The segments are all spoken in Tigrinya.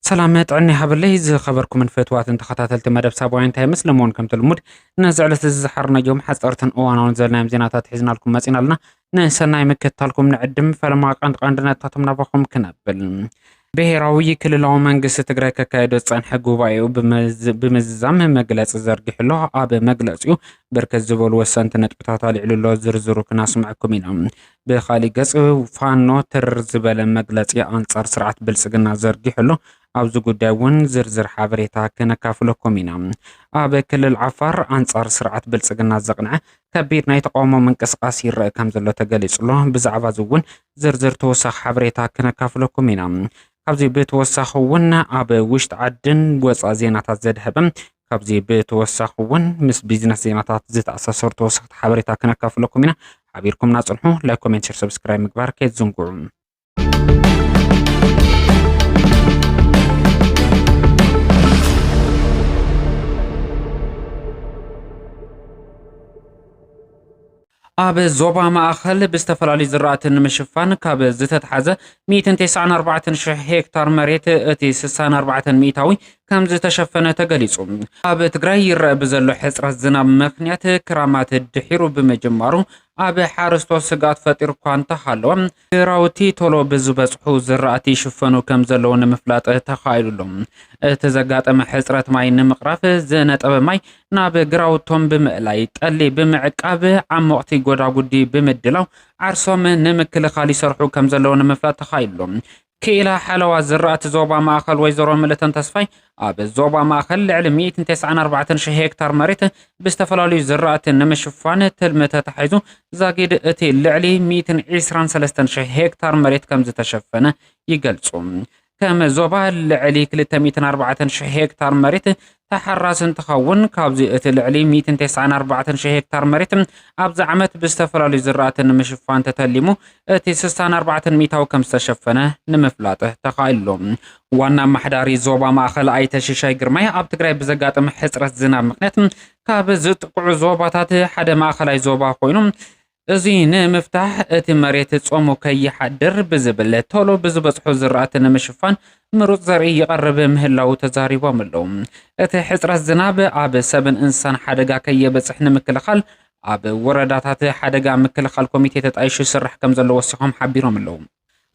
ሰላም ጥዕና ይሃበለይ ዝኸበርኩምን ፈትዋትን ተኸታተልቲ መደብ ሳባውያን ታይምስ ለመውን ከምቲ ልሙድ ነዚ ዕለት እዚ ዝሓርናዮም ሓፀርትን እዋናውን ዘልናዮም ዜናታት ሒዝናልኩም መፂና ኣለና ንሰናይ ምክትታልኩም ንዕድም ፈለማ ቀንዲ ቀንዲ ነጥብታቶም ናባኹም ክነብል ብሄራዊ ክልላዊ መንግስቲ ትግራይ ከካየዶ ዝፀንሐ ጉባኤኡ ብምዝዛም መግለፂ ዘርጊሑ ኣሎ። ኣብ መግለፂኡ ብርክት ዝበሉ ወሰንቲ ነጥብታት ኣልዕሉ ኣሎ። ዝርዝሩ ክናስምዐኩም ኢና። ብካሊእ ገፅ ፋኖ ትርር ዝበለ መግለፂ ኣንፃር ስርዓት ብልፅግና ዘርጊሑ ኣሎ። ኣብዚ ጉዳይ እውን ዝርዝር ሓበሬታ ከነካፍለኩም ኢና። ኣብ ክልል ዓፋር ኣንጻር ስርዓት ብልጽግና ዘቕንዐ ከቢድ ናይ ተቃውሞ ምንቅስቓስ ይረአ ከም ዘሎ ተገሊጹ ኣሎ። ብዛዕባ እዚ እውን ዝርዝር ተወሳኺ ሓበሬታ ከነካፍለኩም ኢና። ካብዚ ብተወሳኺ እውን ኣብ ውሽጢ ዓድን ወፃእ ዜናታት ዘድሀበ ካብዚ ብተወሳኺ እውን ምስ ቢዝነስ ዜናታት ዝተኣሳሰሩ ተወሰኽቲ ሓበሬታ ከነካፍለኩም ኢና። ሓቢርኩምና ፅንሑ። ላይክ፣ ኮሜንት፣ ሼር፣ ሰብስክራይብ ምግባር ከይትዝንግዑ። ኣብ ዞባ ማእኸል ብዝተፈላለዩ ዝራእቲ ንምሽፋን ካብ ዝተትሓዘ 194,000 ሄክታር መሬት እቲ 64 ሚእታዊ ከም ዝተሸፈነ ተገሊጹ። ኣብ ትግራይ ይረአ ብዘሎ ሕጽረት ዝናብ ምክንያት ክራማት ድሒሩ ብምጅማሩ ኣብ ሓረስቶት ስግኣት ፈጢሩ እኳ እንተሃለወ ግራውቲ ቶሎ ብዝበጽሑ ዝራእቲ ይሽፈኑ ከም ዘለዉ ንምፍላጥ ተኻኢሉ ኣሎ። እቲ ዘጋጠመ ሕጽረት ማይ ንምቕራፍ ዝነጠበ ማይ ናብ ግራውቶም ብምእላይ፣ ጠሊ ብምዕቃብ፣ ዓሞቕቲ ጎዳጉዲ ብምድላው ዓርሶም ንምክልኻል ይሰርሑ ከም ዘለዉ ንምፍላጥ ተኻኢሉ ኣሎ። ክኢላ ሓለዋ ዝራእቲ ዞባ ማእኸል ወይዘሮ ምልእተን ተስፋይ ኣብ ዞባ ማእኸል ልዕሊ ሚእትን ተስዓን ኣርባዕተን ሽሕ ሄክታር መሬት ብዝተፈላለዩ ዝራእቲ ንምሽፋን ትልሚ ተታሒዙ ዛጊድ እቲ ልዕሊ ሚእትን ዒስራን ሰለስተን ሽሕ ሄክታር መሬት ከምዝተሸፈነ ይገልፁ። ከም ዞባ ልዕሊ ክልተ ሚእትን ኣርባዕተን ሽሕ ሄክታር መሬት ተሓራሲ እንትኸውን ካብዚ እቲ ልዕሊ ሚእትን ተስዓን ኣርባዕተን ሽሕ ሄክታር መሬት ኣብዚ ዓመት ብዝተፈላለዩ ዝራእቲ ንምሽፋን ተተሊሙ እቲ ስሳን ኣርባዕተን ሚእታዊ ከምዝተሸፈነ ንምፍላጥ ተኻኢሉሎ። ዋና ኣማሓዳሪ ዞባ ማእኸል ኣይተ ሽሻይ ግርማይ ኣብ ትግራይ ብዘጋጥም ሕፅረት ዝናብ ምኽንያት ካብ ዝጥቅዑ ዞባታት ሓደ ማእኸላይ ዞባ ኮይኑ እዚ ንምፍታሕ እቲ መሬት ጾሙ ከይሓድር ብዝብል ቶሎ ብዝበጽሑ ዝራእቲ ንምሽፋን ምሩጽ ዘርኢ ይቐርብ ምህላዉ ተዛሪቦም ኣለዉ። እቲ ሕጽረት ዝናብ ኣብ ሰብን እንስሳን ሓደጋ ከየበጽሕ ንምክልኻል ኣብ ወረዳታት ሓደጋ ምክልኻል ኮሚቴ ተጣይሹ ይስራሕ ከምዘሎ ወሲኾም ሓቢሮም ኣለዉ።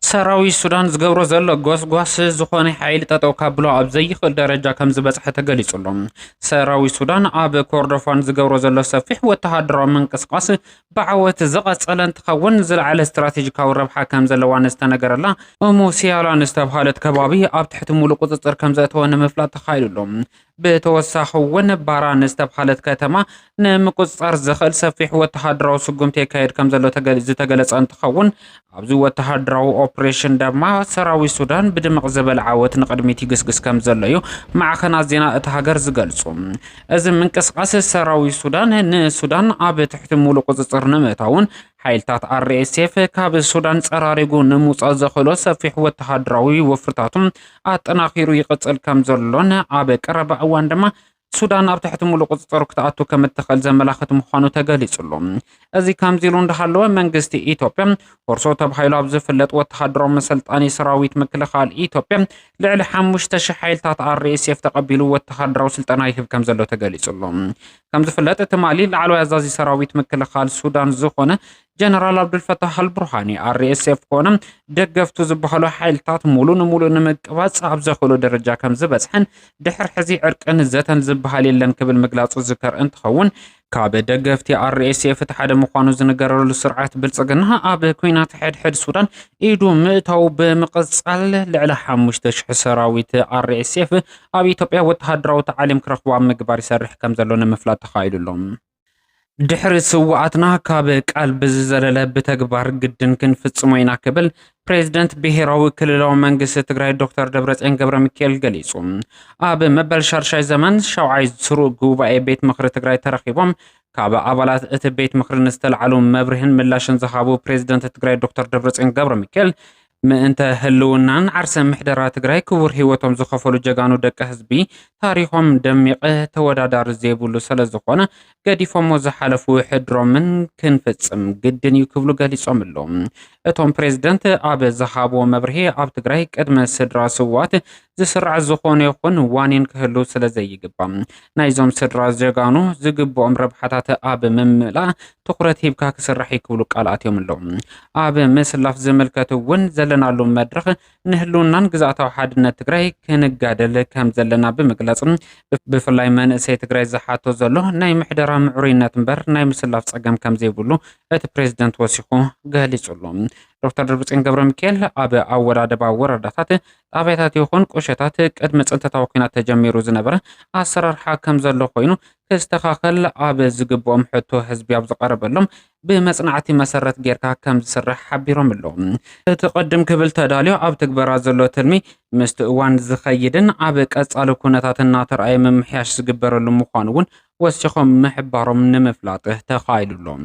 ሰራዊት ሱዳን ዝገብሮ ዘሎ ጎስጓስ ዝኾነ ሓይሊ ጠጠው ካብሎ ኣብ ዘይኽእል ደረጃ ከም ዝበፅሐ ተገሊፁ ኣሎ። ሰራዊት ሱዳን ኣብ ኮርዶፋን ዝገብሮ ዘሎ ሰፊሕ ወተሃደራዊ ምንቅስቓስ ብዓወት ዝቐፀለ እንትኸውን ዝለዓለ ስትራቴጂካዊ ረብሓ ከም ዘለዋ ንዝተነገረላ እሙ ሲያላ ንዝተብሃለት ከባቢ ኣብ ትሕቲ ሙሉእ ቁፅፅር ከም ዘእተወ ንምፍላጥ ተኻኢሉ ኣሎ። ብተወሳኺ'ውን ባራን ዝተብሃለት ከተማ ንምቁጽጻር ዘኽእል ሰፊሕ ወተሃደራዊ ስጉምቲ የካየድ ከምዘሎ ዝተገለጸ እንትኸውን፣ ኣብዚ ወተሃደራዊ ኦፕሬሽን ደማ ሰራዊት ሱዳን ብድምቕ ዝበለ ዓወት ንቕድሚት ይግስግስ ከምዘሎ'ዩ ማዕኸናት ዜና እታ ሃገር ዝገልጹ። እዚ ምንቅስቓስ ሰራዊት ሱዳን ንሱዳን ኣብ ትሕቲ ሙሉእ ቁጽጽር ንምእታውን ሓይልታት ኣርኤስኤፍ ካብ ሱዳን ጸራሪጉ ንምውጻእ ዘኽእሎ ሰፊሕ ወተሃደራዊ ወፍርታቱ ኣጠናኺሩ ይቕጽል ከም ዘሎን ኣብ ቀረባ እዋን ድማ ሱዳን ኣብ ትሕቲ ሙሉእ ቁፅፅር ክትኣቱ ከም እትኽእል ዘመላኽት ምዃኑ ተገሊጹሉ እዚ ከምዚ ኢሉ እንዳሃለወ መንግስቲ ኢትዮጵያ ኮርሶ ተባሂሉ ኣብ ዝፍለጥ ወተሃደራዊ መሰልጣኒ ሰራዊት ምክልኻል ኢትዮጵያ ልዕሊ ሓሙሽተ ሽሕ ሓይልታት ኣርኤስኤፍ ተቐቢሉ ወተሃደራዊ ስልጠና ይህብ ከም ዘሎ ተገሊጹሉ ከምዝፍለጥ ትማሊ ላዕለዋይ ኣዛዚ ሰራዊት ምክልኻል ሱዳን ዝኾነ ጀነራል ኣብዱልፈታሕ ኣልቡርሃኒ ኣርኤስኤፍ ኮነ ደገፍቱ ዝበሃሉ ሓይልታት ሙሉ ንሙሉ ንምቅባፅ ኣብ ዘኽእሎ ደረጃ ከም ዝበፅሐን ድሕር ሕዚ ዕርቅን ዘተን ዝበሃል የለን ክብል ምግላፁ ዝከር እንትኸውን ካብ ደገፍቲ ኣርኤስኤፍ እቲ ሓደ ምዃኑ ዝንገረሉ ስርዓት ብልፅግና ኣብ ኩናት ሕድሕድ ሱዳን ኢዱ ምእታው ብምቕፃል ልዕሊ ሓሙሽተ ሽሕ ሰራዊት ኣርኤስኤፍ ኣብ ኢትዮጵያ ወተሃደራዊ ታዕሊም ክረኽቡ ኣብ ምግባር ይሰርሕ ከም ዘሎ ንምፍላጥ ተኻኢሉ ኣሎ። ድሕሪ ስውኣትና ካብ ቃል ብዝዘለለ ብተግባር ግድን ክንፍጽሞ ኢና ክብል ፕሬዚደንት ብሄራዊ ክልላዊ መንግስቲ ትግራይ ዶክተር ደብረፅዮን ገብረ ሚካኤል ገሊጹ። ኣብ መበል ሻድሻይ ዘመን ሻውዓይ ስሩዕ ጉባኤ ቤት ምኽሪ ትግራይ ተረኺቦም ካብ ኣባላት እቲ ቤት ምኽሪ ንዝተላዕሉ መብርህን ምላሽን ዝሃቡ ፕሬዚደንት ትግራይ ዶክተር ደብረፅዮን ገብረ ሚካኤል ምእንተ ህልውናን ዓርሰ ምሕደራ ትግራይ ክቡር ሂወቶም ዝኸፈሉ ጀጋኑ ደቂ ህዝቢ ታሪኾም ደሚቕ ተወዳዳሪ ዘይብሉ ሰለዝኾነ ገዲፎሞ ዝሓለፉ ሕድሮምን ክንፍፅም ግድን እዩ ክብሉ ገሊፆም ኣለዉ። እቶም ፕሬዝደንት ኣብ ዝሃብዎ መብርሂ ኣብ ትግራይ ቅድመ ስድራ ስውኣት ዝስራዕ ዝኾነ ይኹን ዋኒን ክህሉ ስለ ዘይግባእ ናይዞም ስድራ ጀጋኑ ዝግብኦም ረብሓታት ኣብ ምምላእ ትኹረት ሂብካ ክስራሕ እዩ ክብሉ ቃል ኣትዮም ኣለዉ። ኣብ ምስላፍ ዝምልከት እውን ዘለናሉ መድረኽ ንህልውናን ግዝኣታዊ ሓድነት ትግራይ ክንጋደል ከም ዘለና ብምግላፅ ብፍላይ መንእሰይ ትግራይ ዝሓቶ ዘሎ ናይ ምሕደራ ምዕሩይነት እምበር ናይ ምስላፍ ፀገም ከም ዘይብሉ እቲ ፕሬዝደንት ወሲኹ ገሊፁ ኣሎ። ዶክተር ደብረፅዮን ገብረሚካኤል ኣብ ኣወዳድባ ወረዳታት ጣብያታት ይኹን ቁሸታት ቅድሚ ፅንተታዊ ኲናት ተጀሚሩ ዝነበረ ኣሰራርሓ ከምዘሎ ኮይኑ ክስተኻኸል ኣብ ዝግብኦም ሕቶ ህዝቢ ኣብ ዝቐረበሎም ብመፅናዕቲ መሰረት ጌርካ ከምዝስራሕ ሓቢሮም ኣለው። እቲ ቅድም ክብል ተዳልዮ ኣብ ትግበራ ዘሎ ትልሚ ምስቲ እዋን ዝኸይድን ኣብ ቀፃሊ ኩነታት እናተርኣየ ምምሕያሽ ዝግበረሉ ምዃኑ እውን ወሲኾም ምሕባሮም ንምፍላጥ ተኻኢሉ ኣሎ።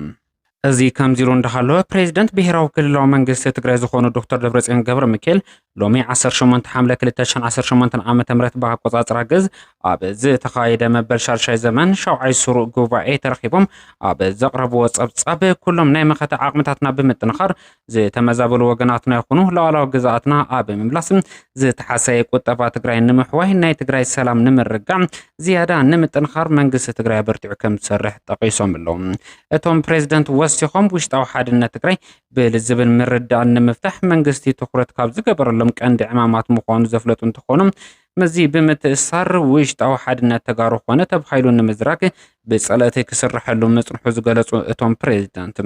እዚ ከምዚሉ እንዳሃለወ ፕሬዚደንት ብሄራዊ ክልላዊ መንግስቲ ትግራይ ዝኾኑ ዶክተር ደብረፅዮን ገብረሚካኤል ሎሚ ዓሰርተ ሸሞንተ ሓምለ ክልተ ሽሕን ዓሰርተ ሸሞንተን ዓመተ ምህረት ብኣቆፃፅራ ግእዝ ኣብ ዝተኻየደ መበል ሻድሻይ ዘመን ሻውዓይ ስሩዕ ጉባኤ ተረኺቦም ኣብ ዘቕረብዎ ፀብፃብ ኩሎም ናይ መኸተ ዓቕምታትና ብምጥንኻር ዝተመዛበሉ ወገናትና ይኹኑ ሉዓላዊ ግዝኣትና ኣብ ምምላስ ዝተሓሰየ ቁጠባ ትግራይ ንምሕዋይ ናይ ትግራይ ሰላም ንምርጋዕ ዝያዳ ንምጥንኻር መንግስቲ ትግራይ ኣበርቲዑ ከም ዝሰርሕ ጠቒሶም ኣለዉ። እቶም ፕሬዝደንት ወሲኾም ውሽጣዊ ሓድነት ትግራይ ብልዝብን ምርዳእን ንምፍታሕ መንግስቲ ትኹረት ካብ ዝገበረሎም ቀንዲ ዕማማት ምዃኑ ዘፍለጡ እንትኾኑ ምስዚ ብምትእስሳር ውሽጣዊ ሓድነት ተጋሩ ኮነ ተባሂሉ ንምዝራግ ብፀለእቲ ክስረሐሉ ምፅንሑ ዝገለፁ እቶም ፕሬዚዳንት፣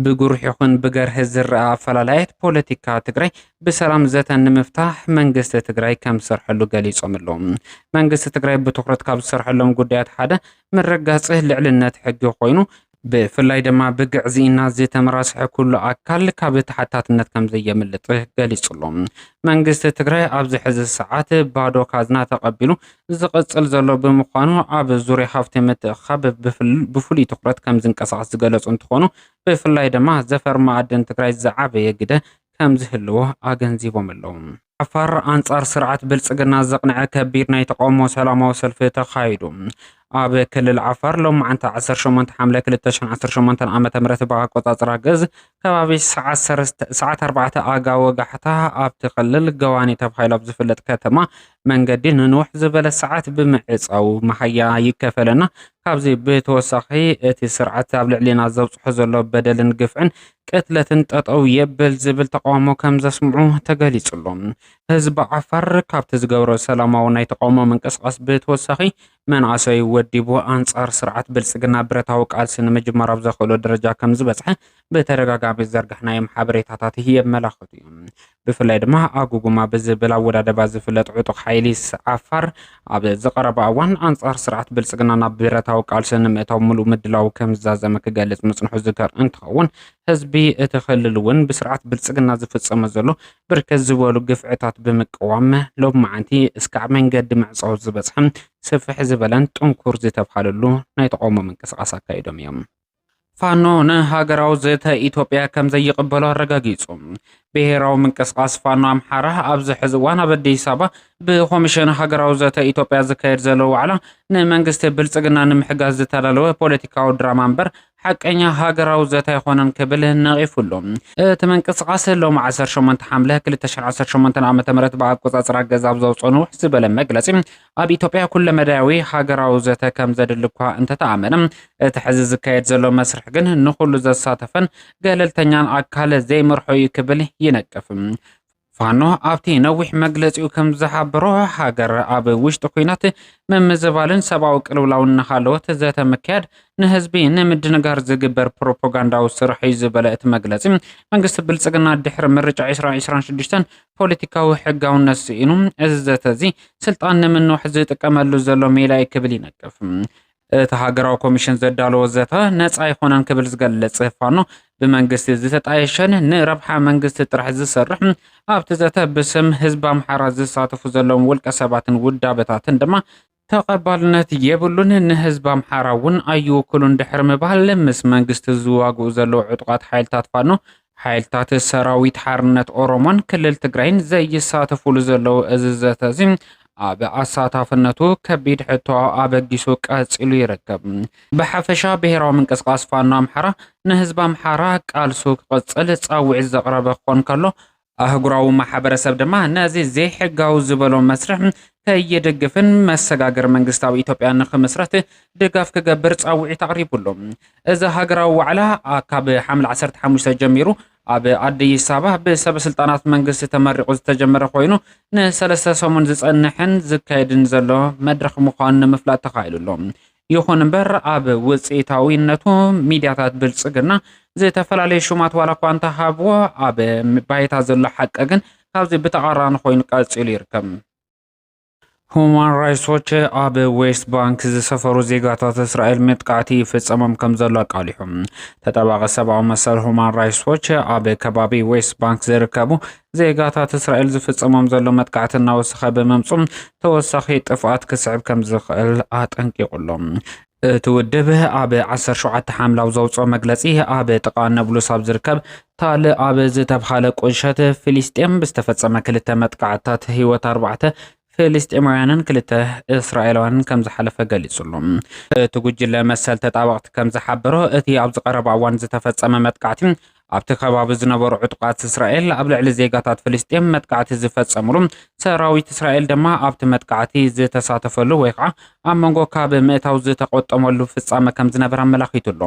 ብጉሩሕ ይኹን ብገርሂ ዝረኣ ኣፈላላያት ፖለቲካ ትግራይ ብሰላም ዘተ ንምፍታሕ መንግስቲ ትግራይ ከምዝሰርሐሉ ገሊፆም'ለው። መንግስቲ ትግራይ ብትኹረት ካብ ዝሰርሐሎም ጉዳያት ሓደ ምርግጋፅ ልዕልነት ሕጊ ኮይኑ ብፍላይ ድማ ብግዕዝይን ናዚ ተመራስሐ ኩሉ ኣካል ካብ ተሓታትነት ከምዘየምልጥ ገሊፁ'ሎ። መንግስቲ ትግራይ ኣብዚ ሕዚ ሰዓት ባዶ ካዝና ተቐቢሉ ዝቕፅል ዘሎ ብምዃኑ ኣብ ዙርያ ሃፍቲ ምትእኽኻብ ብፍሉይ ትኹረት ከምዝንቀሳቐስ ዝገለፁ እንትኾኑ ብፍላይ ድማ ዘፈር መኣድን ትግራይ ዝዓበየ ግደ ከምዝህልዎ ኣገንዚቦም'ለው። ዓፋር ኣንጻር ስርዓት ብልጽግና ዘቕንዐ ከቢድ ናይ ተቓውሞ ሰላማዊ ሰልፊ ተኻይዱ። ኣብ ክልል ዓፋር ሎማዕንቲ 18 ሓምለ 2018 ዓ ም ብኣቆጻጽራ ግዝ ከባቢ ሰዓት 4 ኣጋ ወጋሕታ ኣብቲ ክልል ገዋኒ ተባሂሉ ኣብ ዝፍለጥ ከተማ መንገዲ ንንውሕ ዝበለ ሰዓት ብምዕጻው መሃያ ይከፈለና ካብዚ ብተወሳኺ እቲ ስርዓት ኣብ ልዕሊና ዘብጽሖ ዘሎ በደልን ግፍዕን ቅትለትን ጠጠው የብል ዝብል ተቓውሞ ከምዘስምዑ ተገሊጹ'ሎ። ህዝቢ ዓፋር ካብቲ ዝገብሮ ሰላማዊ ናይ ተቓውሞ ምንቅስቓስ ብተወሳኺ መናእሰዩ ወዲቡ ኣንጻር ስርዓት ብልጽግና ብረታዊ ቃልሲ ንምጅማር ኣብ ዘኽእሎ ደረጃ ከምዝበጽሐ ብተደጋጋሚ ዝዘርጋሕናዮም ሓበሬታታት የመላኽቱ'ዮም። ብፍላይ ድማ ኣጉጉማ ብዝብል ኣወዳድባ ዝፍለጥ ዕጡቕ ሓይሊ ዓፋር ኣብ ዝቐረባ እዋን ኣንጻር ስርዓት ብልጽግና ናብ ብረታዊ ቃልሲ ንምእታው ምሉእ ምድላው ከምዝዛዘመ ክገልጽ ምጽንሑ ዝዝከር እንትኸውን ህዝቢ እቲ ክልል እውን ብስርዓት ብልጽግና ዝፍጸመ ዘሎ ብርክት ዝበሉ ግፍዕታት ብምቅዋም ሎብ መዓንቲ እስካዕ መንገዲ ምዕጻው ዝበጽሐ ስፍሕ ዝበለን ጥንኩር ዝተብሃለሉ ናይ ተቓውሞ ምንቅስቓስ ኣካይዶም እዮም። ፋኖ ንሃገራዊ ዘተ ኢትዮጵያ ከም ዘይቕበሎ ኣረጋጊጹ። ብሄራዊ ምንቅስቓስ ፋኖ ኣምሓራ ኣብዚ ሕዚ እዋን ኣብ ኣዲስ ኣበባ ብኮሚሽን ሃገራዊ ዘተ ኢትዮጵያ ዝካየድ ዘሎ ዋዕላ ንመንግስቲ ብልጽግና ንምሕጋዝ ዝተዳለወ ፖለቲካዊ ድራማ እምበር ሓቀኛ ሃገራዊ ዘተ ኣይኮነን ክብል ነቒፉሉ። እቲ ምንቅስቓስ ሎሚ ዓሰርተ ሸሞንተ ሓምለ ክልተ ሽሕን ዓሰርተ ሸሞንተን ዓመተ ምህረት ብኣቆጻጽራ ግእዝ ኣብ ዘውጽኦ ንውሕ ዝበለ መግለጺ ኣብ ኢትዮጵያ ኩለመዳያዊ ሃገራዊ ዘተ ከም ዘድሊ እኳ እንተተኣመነ፣ እቲ ሕዚ ዝካየድ ዘሎ መስርሕ ግን ንኹሉ ዘሳተፈን ገለልተኛን ኣካል ዘይመርሖ እዩ ክብል ይነቅፍ። ፋኖ ኣብቲ ነዊሕ መግለጺኡ ከም ዝሓበሮ፣ ሃገር ኣብ ውሽጢ ኲናት፣ ምምዝባልን ሰብኣዊ ቅልውላውን እናሃለወት ዘተ ምክያድ ንህዝቢ ንምድንጋር ዝግበር ፕሮፖጋንዳዊ ስራሕ እዩ ዝበለ እቲ መግለጺ፣ መንግስቲ ብልጽግና ድሕሪ ምርጫ ዕስራን ዕስራን ሽዱሽተን ፖለቲካዊ ሕጋውነት ስኢኑ፣ እዚ ዘተ እዚ ስልጣን ንምንዋሕ ዝጥቀመሉ ዘሎ ሜላ እዩ ክብል ይነቅፍ። እቲ ሃገራዊ ኮሚሽን ዘዳለዎ ዘተ ነጻ ኣይኮነን ክብል ዝገልጽ ፋኖ፣ ብመንግስቲ ዝተጣየሸን ንረብሓ መንግስቲ ጥራሕ ዝሰርሕ፣ ኣብቲ ዘተ ብስም ህዝቢ ኣምሓራ ዝሳተፉ ዘለዉን ውልቀ ሰባትን ውዳበታትን ድማ ተቐባልነት የብሉን፣ ንህዝቢ ኣምሓራ እውን ኣይውክሉን ድሕሪ ምባል፣ ምስ መንግስቲ ዝዋግኡ ዘለዉ ዕጡቓት ሓይልታት ፋኖ፣ ሓይልታት ሰራዊት ሓርነት ኦሮሞን ክልል ትግራይን ዘይሳተፉሉ ዘለዉ እዚ ዘተ እዚ ኣብ ኣሳታፍነቱ ከቢድ ሕቶ ኣበጊሱ ቀፂሉ ይርከብ። ብሓፈሻ ብሄራዊ ምንቅስቓስ ፋኖ ኣምሓራ ንህዝቢ ኣምሓራ ቃልሱ ክቕፅል ፃውዒት ዘቕረበ ክኾን ከሎ፣ ኣህጉራዊ ማሕበረሰብ ድማ ነዚ ዘይሕጋዊ ዝበሎ መስርሕ ከይድግፍን መሰጋገሪ መንግስታዊ ኢትዮጵያ ንኽምስረት ድጋፍ ክገብር ፃውዒት ኣቕሪቡ ኣሎ። እዚ ሃገራዊ ዋዕላ ካብ ሓምለ ዓሰርተ ሓሙሽተ ጀሚሩ ኣብ ኣዲስ ኣበባ ብሰበስልጣናት መንግስቲ ተመሪቑ ዝተጀመረ ኮይኑ ንሰለስተ ሰሙን ዝፀንሕን ዝካየድን ዘሎ መድረኽ ምዃኑ ንምፍላጥ ተኻኢሉ ኣሎ። ይኹን እምበር ኣብ ውፅኢታዊነቱ ሚድያታት ብልፅግና ዝተፈላለዩ ሹማት ዋላ እኳ እንተሃብዎ ኣብ ባይታ ዘሎ ሓቂ ግን ካብዚ ብተቓራኒ ኮይኑ ቀፂሉ ይርከብ። ሁማን ራይትስ ዎች ኣብ ዌስት ባንክ ዝሰፈሩ ዜጋታት እስራኤል መጥቃዕቲ ይፍፀሞም ከም ዘሎ ኣቃሊሑ። ተጠባቂ ሰብኣዊ መሰል ሁማን ራይትስ ዎች ኣብ ከባቢ ዌስት ባንክ ዝርከቡ ዜጋታት እስራኤል ዝፍጸሞም ዘሎ መጥቃዕቲ እናወሰኸ ብምምጹ ተወሳኺ ጥፍኣት ክስዕብ ከም ዝኽእል ኣጠንቂቑ ኣሎ። እቲ ውድብ ኣብ 17 ሓምላው ዘውፅኦ መግለፂ ኣብ ጥቃ ነብሉስ ኣብ ዝርከብ ታል ኣብ ዝተብሃለ ቁሸት ፊሊስጤም ብዝተፈፀመ ክልተ መጥቃዕትታት ህይወት ኣርባዕተ ፍልስጤማውያንን ክልተ እስራኤላውያንን ከም ዝሓለፈ ገሊጹ'ሎ። እቲ ጉጅለ መሰል ተጣበቕቲ ከም ዝሓበሮ፣ እቲ ኣብዚ ቀረባ እዋን ዝተፈጸመ መጥቃዕቲ፣ ኣብቲ ከባቢ ዝነበሩ ዕጡቓት እስራኤል ኣብ ልዕሊ ዜጋታት ፍልስጤም መጥቃዕቲ ዝፈጸምሉ፣ ሰራዊት እስራኤል ድማ ኣብቲ መጥቃዕቲ ዝተሳተፈሉ ወይ ኸኣ ኣብ መንጎ ካብ ምእታው ዝተቖጠመሉ ፍጻመ ከም ዝነበረ ኣመላኺቱ'ሎ።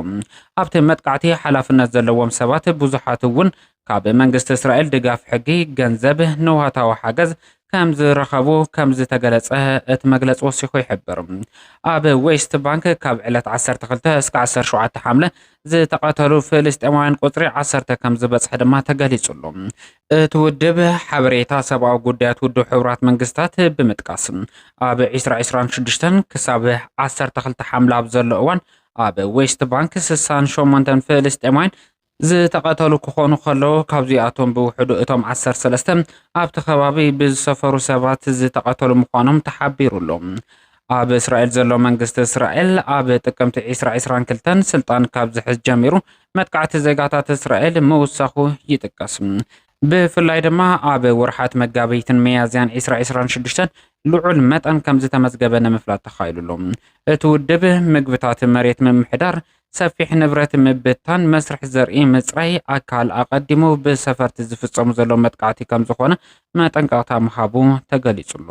ኣብቲ መጥቃዕቲ ሓላፍነት ዘለዎም ሰባት ብዙሓት'ውን ካብ መንግስቲ እስራኤል ድጋፍ ሕጊ፣ ገንዘብ፣ ንዋታዊ ሓገዝ፣ ከም ዝረኸቡ ከም ዝተገለጸ እቲ መግለጺ ወሲኹ ይሕብር። ኣብ ዌስት ባንክ ካብ ዕለት ዓሰርተ ክልተ እስከ ዓሰርተ ሸውዓተ ሓምለ ዝተቐተሉ ፍልስጤማውያን ቁጽሪ ዓሰርተ ከም ዝበጽሐ ድማ ተገሊጹ ኣሎ። እቲ ውድብ ሓበሬታ ሰብኣዊ ጉዳያት ውድብ ሕቡራት መንግስታት ብምጥቃስ ኣብ ዕስራ ዕስራን ሽዱሽተን ክሳብ ዓሰርተ ክልተ ሓምለ ኣብ ዘሎ እዋን ኣብ ዌስት ባንክ ስሳን ሸሞንተን ፍልስጤማውያን ዝተቐተሉ ክኾኑ ከለዉ፣ ካብዚኣቶም ብውሕዱ እቶም ዓሰርተ ሰለስተ ኣብቲ ከባቢ ብዝሰፈሩ ሰባት ዝተቐተሉ ምዃኖም ተሓቢሩ'ሎ። ኣብ እስራኤል ዘሎ መንግስቲ እስራኤል፣ ኣብ ጥቅምቲ ዕስራ ዕስራን ክልተን ስልጣን ካብ ዝሕዝ ጀሚሩ መጥቃዕቲ ዜጋታት እስራኤል ምውሳኹ ይጥቀስ። ብፍላይ ድማ ኣብ ወርሓት መጋቢትን ሚያዝያን ዕስራ ዕስራን ሽዱሽተን ልዑል መጠን ከምዝተመዝገበ ንምፍላጥ ተኻኢሉ'ሎ። እቲ ውድብ፣ ምግብታት መሬት ምምሕዳር፣ ሰፊሕ ንብረት ምብታን፣ መስርሕ ዘርኢ ምጽራይ ኣካል ኣቐዲሙ ብሰፈርቲ ዝፍጸሙ ዘሎ መጥቃዕቲ ከምዝኾነ መጠንቀቕታ ምሃቡ ተገሊጹ'ሎ።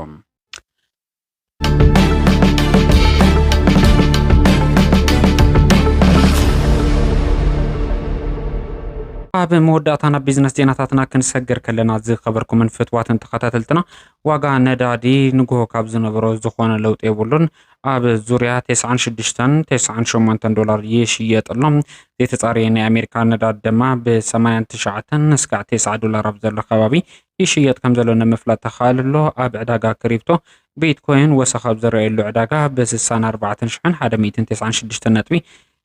ኣብ መወዳእታ ናብ ቢዝነስ ዜናታትና ክንሰግር ከለና ዝኸበርኩምን ፍትዋትን ተኸታተልትና ዋጋ ነዳዲ ንግሆ ካብ ዝነበሮ ዝኾነ ለውጢ የብሉን ኣብ ዙርያ 96ን 98ን ዶላር ይሽየጥ ኣሎ። ዘይተጻረየ ናይ ኣሜሪካ ነዳድ ድማ ብሰማያን ትሽዓተን እስካዕ ቴስዓ ዶላር ኣብ ዘሎ ከባቢ ይሽየጥ ከም ዘሎ ንምፍላጥ ተኻእል ኣሎ። ኣብ ዕዳጋ ክሪፕቶ ቢትኮይን ወሰኽ ኣብ ዝረኣየሉ ዕዳጋ ብ64 ሽሕን 196 ነጥቢ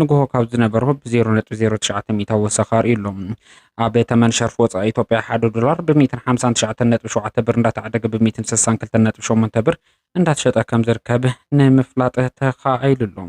ንግሆ ካብ ዝነበሮ ብዜሮ ነጥቢ ዜሮ ትሽዓተ ሚእታዊ ወሰኽ ኣርእዩ ኣሎ። ኣብ ተመን ሸርፊ ወፃኢ ኢትዮጵያ ሓደ ዶላር ብሚእትን ሓምሳን ትሽዓተን ነጥቢ ሸውዓተ ብር እንዳተዓደገ ብሚእትን ስሳን ክልተን ነጥቢ ሸሞንተ ብር እንዳተሸጠ ከም ዝርከብ ንምፍላጥ ተኻኢሉ ኣሎ።